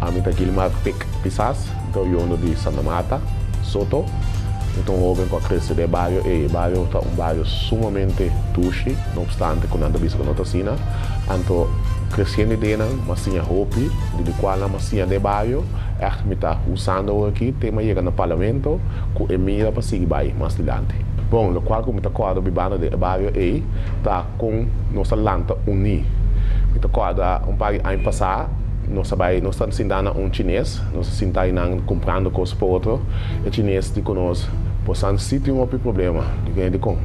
Ami ta Guilmar Pic Pisas, mi ta oriundo di Santa Marta, Soto. Mi ta un hoben cu a crece den e bario ey. E bario ta un bario sumamente dushi, no obstante cu nan ta bisa cu no ta asina. Anto creciendo ideanan, mi siña hopi di di cualnan mi a siña den e bario, ey mi ta usando awo aki te mi a yega na Parlamento cu e mira pa sigui bay mas dilanti. Bon, lokual ku mi ta kòrda bibando den e bario ei ta kon nos a lanta uní. Mi ta kòrda un par di aña pasá nos a bai, nos ta sintá na un chines, nos a sintá i nan kumprando kos pa otro. E chines di ku nos, Bosan sí tin hopi problema. Di kuné? Dikon?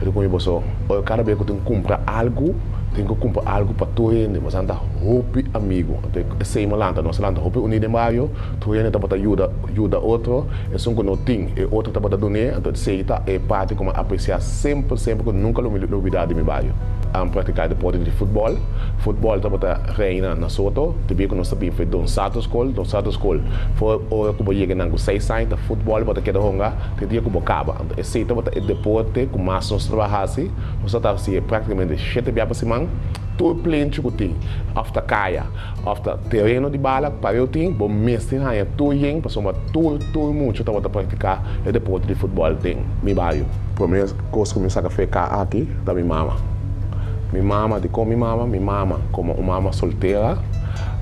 E ta kume boso? Ora kada bes ku tin ku kumpra algu, tin ku kumpra algu pa tur hende. Bosan ta hopi amigu. Anto esei mi a lanta, nos a lanta hopi uní den bario. Tur hende tabata yuda yuda otro. Esun ku no tin, e otro tabata dun'é, anto esei ta e parti ku mi a apresiá semper, semper ku nunka lo lo bidá di mi bayo. An praktiká deporte di futbòl. Futbòl tabata reina na Soto, te bia ku nos ta bin fe Don Sato Skol. Don Sato Skol, for ora ku bo yega nan ku seis aña, ta futbòl bo ta keda honga te dia ku bo kaba. Anto esei tabata e deporte ku mas nos tabata hasi. Nos tabata hasié praktikamente shete bia pa siman. Tur plenchi ku tin, òf ta kaya. Of ta tereno di bala, pa eu tin, bo mester haña tur yen pasobra tur tur mucho tabata practica e deporte di futbol den mi bario. Prome cos cu mi saca feca aki ta mi mama. Mi mama, dicon mi mama? Mi mama, como un mama soltera,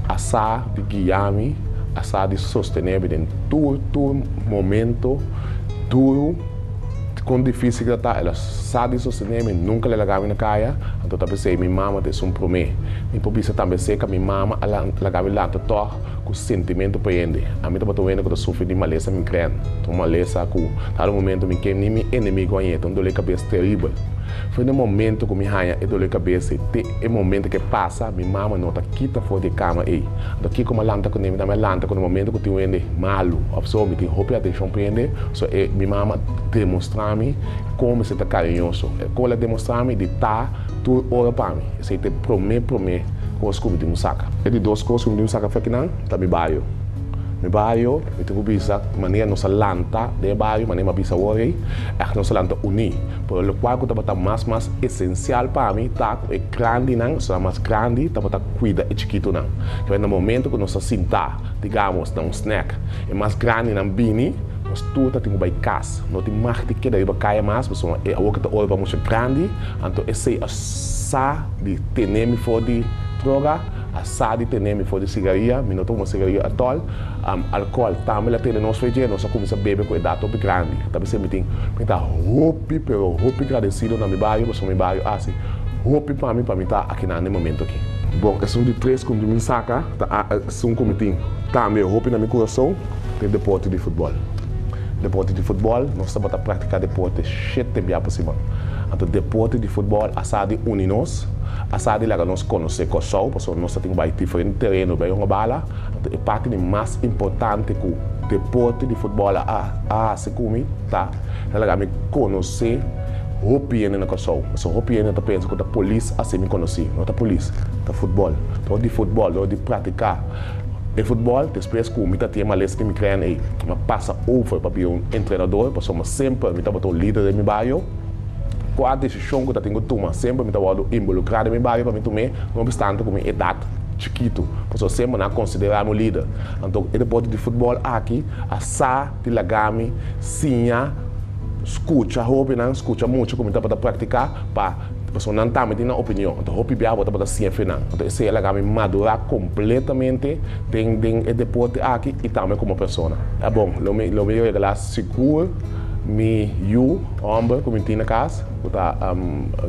a sa di guiami, a sa di sostenebi den tur tur momento duro. Con dificil que ta ta, el a sa di sostené mi, nunca el a laga mi na caya, anto ta p'esey mi mama ta esun prome. Mi por bisa tambe esey ca mi mama a laga mi lanta tog cu sentimento pa hende. Ami tabata un hende cu ta sufri di malesa migren, ta un malesa cu cada momento mi ke ni mi enemigo haña e, ta un dole cabes terribel. Fue n'e momento cu mi haña e dole cabes ey, te e momento que pasa mi mama no ta kita for di e cama ey. Anto kico mi a lanta cu n'e? Mi tambe a lanta cu n'e momento cu tin un hende malo of so, mi tin hopi atencion p'e hende, So e mi mama demostra mi kon mester ta kariñoso. E kola demostra mi di ta tur ora pa mi. Esei ta e promé promé kos ku mi tin ku saka. E di dos kos ku mi tin ku saka fèkinan ta mi bario. Mi bario, mi tin ku bisa manera nos a lanta den e bario, manera mi a bisa awor ei, aki nos a lanta uní. Pero lokual ku tabata mas mas esensial pa mi ta ku e grandinan, esnan mas grandi, tabata kuida e chikitunan. Kibèr na momentu ku nos a sinta, digamos, na un snèk, E mas grandinan bini, nos tur ta tin ku bai kas. No tin mag di keda riba kaya mas, pasobra e awoka ta ora pa musha grandi. Anto esei a sa di tene mi for di droga, a sa di tene mi for di sigaria. Mi no ta huma sigaria atol. Alkohol tambe la tene nos feje. Nos a kuminsá bebe ku edat hopi grandi. Ta bis'é mi tin, mi ta hopi, pero hopi gradesido na mi bario, pasobra mi bario hasi hopi pa mi pa mi ta akinan den momentu aki. Bon, esun di tres ku mi saka ta. Sun ku mi tin tambe hopi na mi kurason ta e deporte di futbòl. Deporte di futbòl, nos tabata praktiká deporte shete bia pa siman. Anto deporte di futbòl a sa di uni nos, a sa di laga nos konosé Kòrsou, pasobra nos ta tin ku bai diferente tereno bai hunga bala. Anto e parti di mas importante ku deporte di futbòl a hasi ku mi, Ta ta laga mi conoce hopi hende na Kòrsou. Pasobra hopi hende ta pensa cu ta polis haci mi conoci. No ta polis, ta futbòl. Dor di futbòl, dor di practica e futbòl, despues cu mi ta tin e males cu mi crea ei, m'a pasa over pa bira un entrenador, pasobra semper mi tabata un lider den mi bario. Cua decision cu ta tin cu tuma, semper mi ta wordo involucra den mi bario pa mi tum'é, no obstante cu mi edad chikitu, pasobra semper nan a considera mi un lider. Anto e deporte di futbòl aki a sa. Di lagami siña, skucha hóbennan, skucha mucha ku mi tabata praktiká pa personanan tambe tin nan opinion. Anto hopi bia abo tabata siña fenan. Anto esei a laga mi madurá kompletamente den den e deporte aki i tambe komo persona. A bon, lo mi lo mi regalá sigur mi yu hòmber ku mi tin na kas, ku ta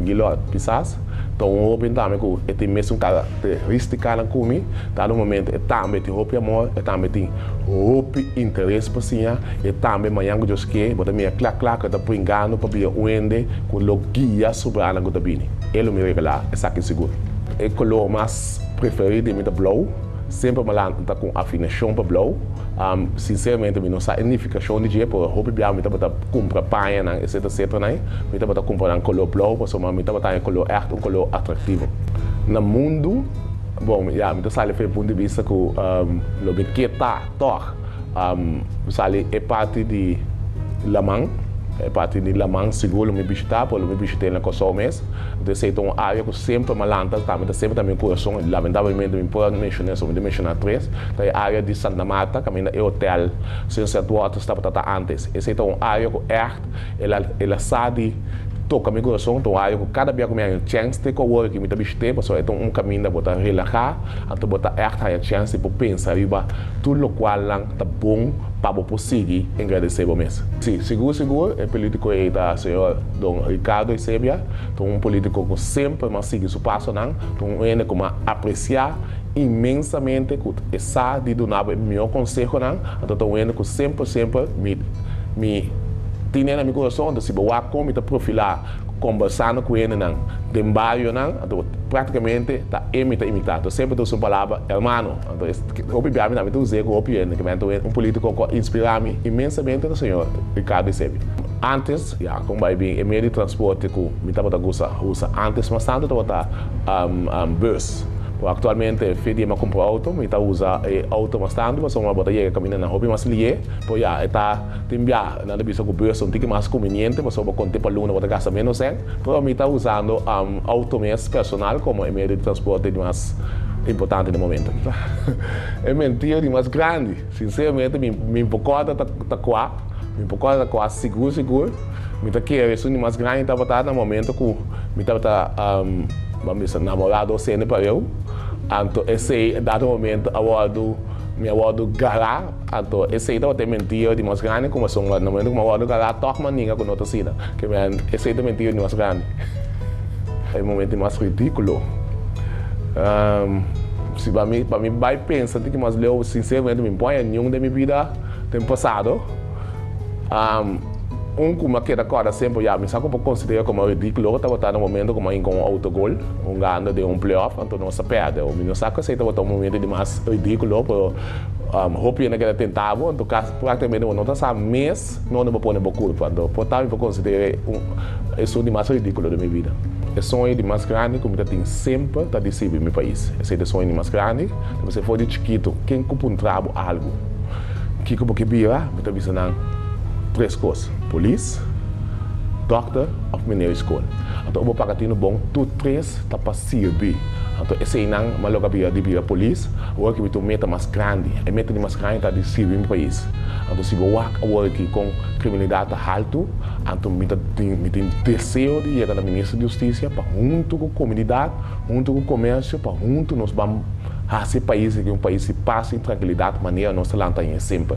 Guilord. Kisas ta un hóben tambe ku e tin mesun karakterístikanan ku mi. Kada momentu e tambe tin hopi amor, e tambe tin Hopi interes pa siña e tambe mañan ku Dios ke bo ta mira kla kla ku e ta pui nganu pabia un hende ku lo guia soberano ku ta bini. E lo mi regalá, esaki sigur. E kolor mas preferí di mi ta blou. Semper mi a lanta ku un afinashon pa blou. Sinseramente mi no sa e nifikashon di dje, pero hopi biaha mi tabata kumpra pañanan etsetera etsetera. Mi tabata kumpra nan kolor blou pasobra mi tabata haña e kolor ègt un kolor atraktivo na mundu. Bon, ya, mi ta sali fe punto di bista cu lo mi ke ta tog. Mi sali e parti di laman, e parti di laman sigur lo mi bishita, por lo mi bishit'e na Kòrsou mes. Enton esei ta un área cu semper malanta ta, mi ta semper ta na mi curason. Lamentablemente mi por a menciona eso, mi ta menciona tres, ta e área di Santa Marta, caminda e hotel Sunset Waters tabata ta antes. Esei ta un área cu ègt. El a sa di toka mi corazon, ta un haya cu cada bia cu mi haya un chance cu awor aki mi ta bishit'e, pasobra e ta un caminda bo ta relaha, anto bo ta echt haya chance di por pensa riba tur locualnan ta bon pa bo por sigui engradece bo mes. Sí, sigur sigur, e politico ey ta señor Don Ricardo Eusebia, ta un politico cu semper mi a sigui su pasonan, ta un hende cu mi a aprecia inmensamente, cu e sa di dunabo e mihor consehonan, anto ta un hende cu semper semper mi. Mi tine na mi kurason, anto si bo wak kon mi ta profilá kombersando ku hendenan den barionan, anto práktikamente ta e mi ta imitá. Anto semper ta usa un palabra hermano. Anto es hopi bia mi ta mi ta us'é ku hopi hende, kimente un polítiko ku a inspirá mi imensamente ta señor Ricardo Eusebio. Ántes, ya kon bai bin e medio di transporte ku mi tabata gusta usa ántes mas tantu tabata bus. Pero aktualmente fe di e mi a kumpra outo, mi ta usa e outo mas tantu pasobra bo ta yega kaminda nan hopi mas lié. Bo ya e ta tin biaha. Nan ta bisa ku bus un tiki mas kominiente pasobra bo konté pa luna bo ta gasta ménos en. Pero mi ta usando outo mes personal komo e medio di transporte di mas importante na e momento aki. E mentira di mas grandi. Sinseramente mi mi por kòrda ta ta kua, mi por kòrda ta kua sigur sigur. Mi ta kere esun di mas grandi tabata na momento ku mi tabata ban bisa namorá dos hende pareho. Anto esei dado momento a wòrdu mi a wòrdu gará. Anto, esei tabata e mentiu di mas grandi ku Masong na momento ku Mawòrdu ta la tòg mandinga ku no ta sina. Kemien, esei ta e mentiu di mas grandi. E momento di mas ridíkulo. Si pa mi, pa mi bai pensa tiki mas leu, sinseramente mi bon eñun den mi bida den pasado. Un ku mi a keda kòrda semper, ya mi sa ku por konsidera komo ridíkulo tabata na momento ku mi a hinka un outogol hungando den un playoff anto nos a pèrdè. Mi no sa ku esei tabata un momento di mas ridíkulo pero. Um hopi hende a keda tentá bo. En tur kas, práktikamente bo no ta sa mes nunde bo pone bo kulpa. Anto, por tal mi por konsider'é un esun di mas ridíkulo den mi bida. E soño di mas grandi ku mi ta tin semper ta di sirbi mi pais. Esei ta e soño di mas grandi. Ta p'esei for di chikitu, ken ku puntra bo algu, kiko bo ke bira? Mi ta bisa nan tres kos, polis, dòkter òf minera di skol. Anto, ora bo paga tinu bon, tur tres ta pa sirbi. Anto, eseinan, mi a logra bira di bira polis. Ora ki mi ta un meta mas grandi. E meta di mas grandi ta di sirbi mi pais. Anto si bo wak awor aki kon kriminalidat ta haltu, anto mi ta tin mi tin deseo di yega na Minister di Hustisia pa huntu ku komunidat, huntu ku komersio pa huntu nos ban hasi e pais aki un pais di pas i trankilidat manera nos ta lanta aña semper.